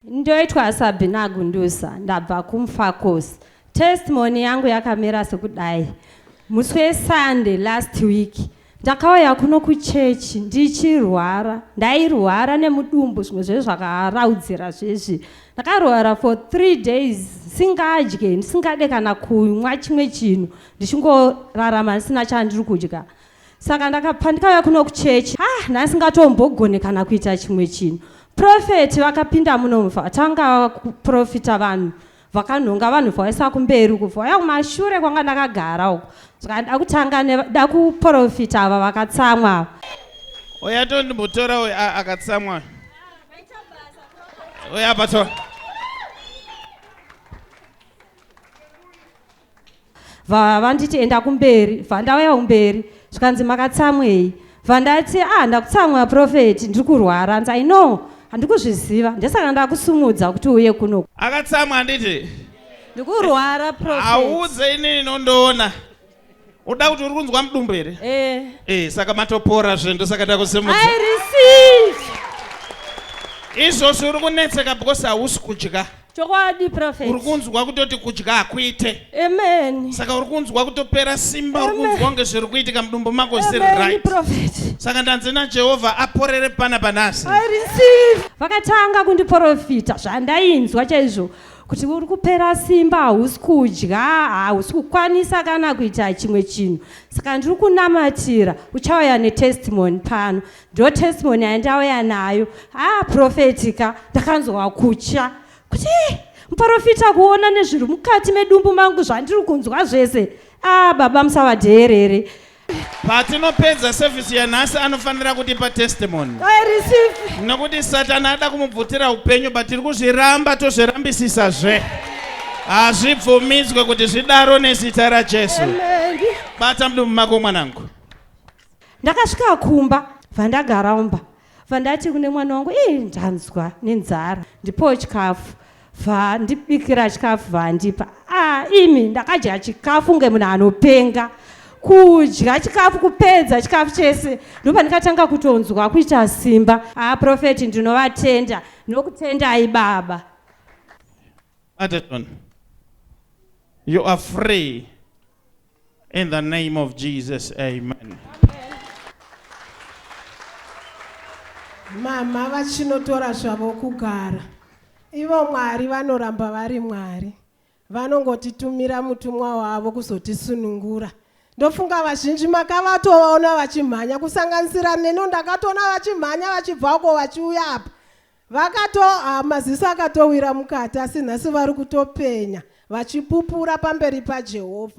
Ndoitwa Sabina Gundusa ndabva kuMfakos. Testimony yangu yakamira sekudai. Musi weSunday last week ndakauya kuno kuchurch ndichirwara. Ndairwara nemudumbu zvimwe zvezvi zvakaraudzira zvezvi. Ndakarwara for three days singadye ndisingade kana kumwa chimwe chinhu ndichingorarama ndisina chandiri kudya. saka ndaka pandikauya kuno kuchechi ha ah, nhasi ngatombogone kana kuita chimwe chinhu profeti vakapinda munomu vatanga kuprofita vanhu vakanhonga vanhu vaisa kumberi uku vaya kumashure kwanga ndakagara uku saka da kutanga da kuprofita ava vakatsamwa ava oya tondimbotora uyo akatsamwa oya patora bva vanditi enda kumberi bva ndauya kumberi zvikanzi makatsamwei bva ndati ah ndakutsamwa profeti ndiri kurwara hanzi i know handikuzviziva ndesaka ndakusumudza kuti uye kuno akatsamwa handiti ndikurwara profeti auudze inini nondoona Uda kuti uri kunzwa mudumbu here? Eh. Eh, saka matopora zve ndosaka ndakusimudza. I receive. Izvozvo uri kunetseka because hausi kudya. Chokwadi prophet. Uri kunzwa kutoti kudya hakuite. Amen. Saka uri kunzwa kutopera simba uri kunzwa kunge zviri kuitika mudumbu mako ziri right. Amen prophet. Saka ndanzi na Jehovah aporere pana panasi. I receive. Vakatanga kundiprofita zvandainzwa chaizvo. kuti uri kupera simba hausi kudya hausi kukwanisa kana kuita chimwe chinhu saka ndiri kunamatira uchauya netestimony pano ndo testimony yandauya nayo haa profeti ka ndakanzwa kutya kuti eh, muprofita kuona nezviri mukati medumbu mangu zvandiri kunzwa zvese aa ah, baba musavadheerere Patinopedza service yanhasi anofanira kutipa testimony. I receive. Nokuti Satana ada kumubvutira upenyu but tiri kuzviramba tozvirambisisa zve. Hazvibvumidzwe kuti zvidaro nezita raJesu. Amen. Bata mdumu mako mwanangu. Ndakasvika kumba vandagara umba. Bva ndati kune mwana wangu ii ndanzwa nenzara ndipoo chikafu bva ndibikira chikafu bva andipa ah imi ndakadya chikafu kunge munhu anopenga kudya chikafu kupedza chikafu chese ndopa ndikatanga kutonzwa kuita simba ah profeti ndinovatenda ndinokutendai baba Adeton, you are free In the name of Jesus, amen. Mama vachinotora zvavo kugara. Ivo Mwari vanoramba vari Mwari. Vanongotitumira mutumwa wavo kuzotisunungura. Ndofunga vazhinji makavatoona vachimhanya kusanganisira neno ndakatoona vachimhanya vachibva uko vachiuya apa. Vakato ah, maziso akatowira mukati asi nhasi vari kutopenya vachipupura pamberi paJehovha.